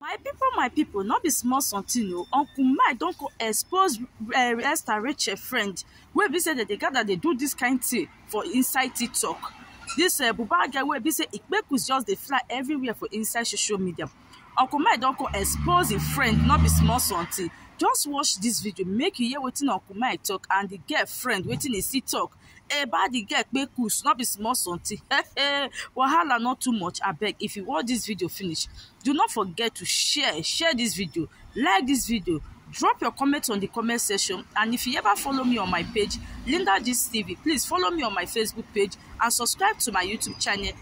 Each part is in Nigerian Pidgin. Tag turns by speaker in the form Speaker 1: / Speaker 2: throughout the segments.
Speaker 1: My people, my people, not be small something o. Uncle Mike don co- expose uh, Esther Rachel friend wey be say dem dey gather dey do this kind thing for inside TikTok. This uh, Buba girl wey be say Ikpekus just dey fly everywhere for inside social media. Uncle Mike don co- expose him friend, not be small something. Just watch this video, make you hear wetin Uncle Mike talk and the girl friend wetin he see talk eba the girl kpe kus no be small something wahala not too much abeg if you watch this video finish do not forget to share share this video like this video drop your comment on the comment section and if you ever follow me on my page linda gist tv please follow me on my facebook page and subscribe to my youtube channel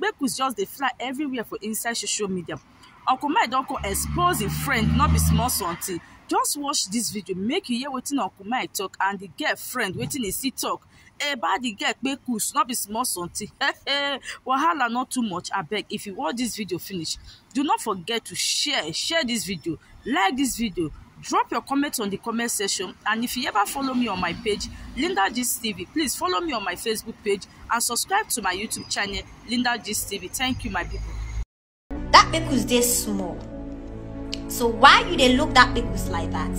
Speaker 1: make we just dey fly everywhere for inside social media uncle mike don come expose him friend no be small something just watch this video make you hear wetin uncle mike talk and the girl friend wetin he still talk about the girl kpekus no be small something wahala no too much abeg if you watch this video finish do not forget to share share this video like this video drop your comments on the comment section and if you ever follow me on my page linda gist tv please follow me on my facebook page and subscribe to my youtube channel linda gist tv thank you my people that pickles dey small so why you dey look that pickles like that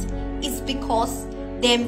Speaker 1: it's because dem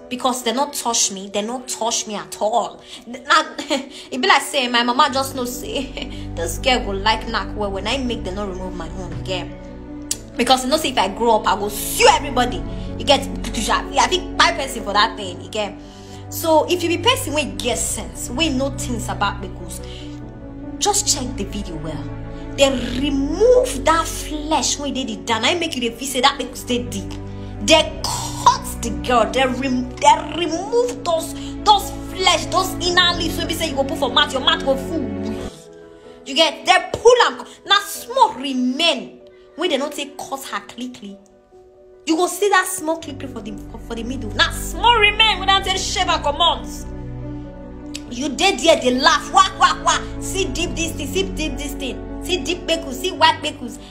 Speaker 1: because they not touch me they not touch me at all now it be like say my mama just no say this girl go like knack well when i make them not remove my own girl because you know say if i grow up i go sue everybody you get i think buy person for that thing you get so if you be person we get sense we know things about because just check the video well they remove that flesh when they did and i make you the feel say that steady dem cut the girl dem remove those those flesh those inner leaves wey be say you go put for mouth your mouth go full you get dem pull am na small remain wey dem no take cut her clean you go see that small clip for the for the middle na small remain wey don take shave her comot you dey there dey laugh wah wah wah see deep this thing see deep this thing see deep kpekus see white kpekus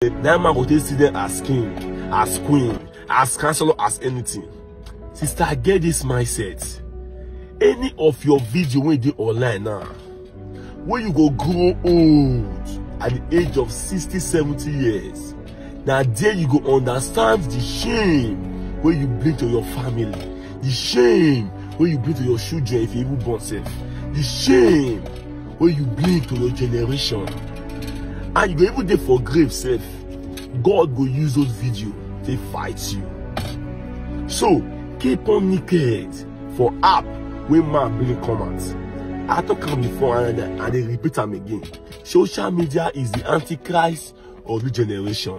Speaker 1: that man go take see them as king as queen as councillor as anything sister get this mindset any of your video wey dey online now wey you go grow old at the age of sixty seventy years na there you go understand the shame wey you bring to your family the shame wey you bring to your children if you even born sef the shame wey you bring to your generation and you go even dey for grave sef god go use those video take fight you so keep on naked for app wey man bring come out i talk am before and i i dey repeat am again social media is the antichrist of the generation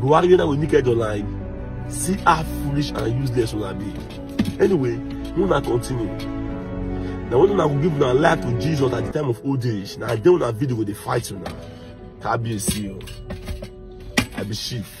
Speaker 1: buhari wey na we naked online see how foolish and useless una be anyway make una continue na when una go give una life to jesus at the time of old age na there una video go dey fight una kabiyesi o i be chief.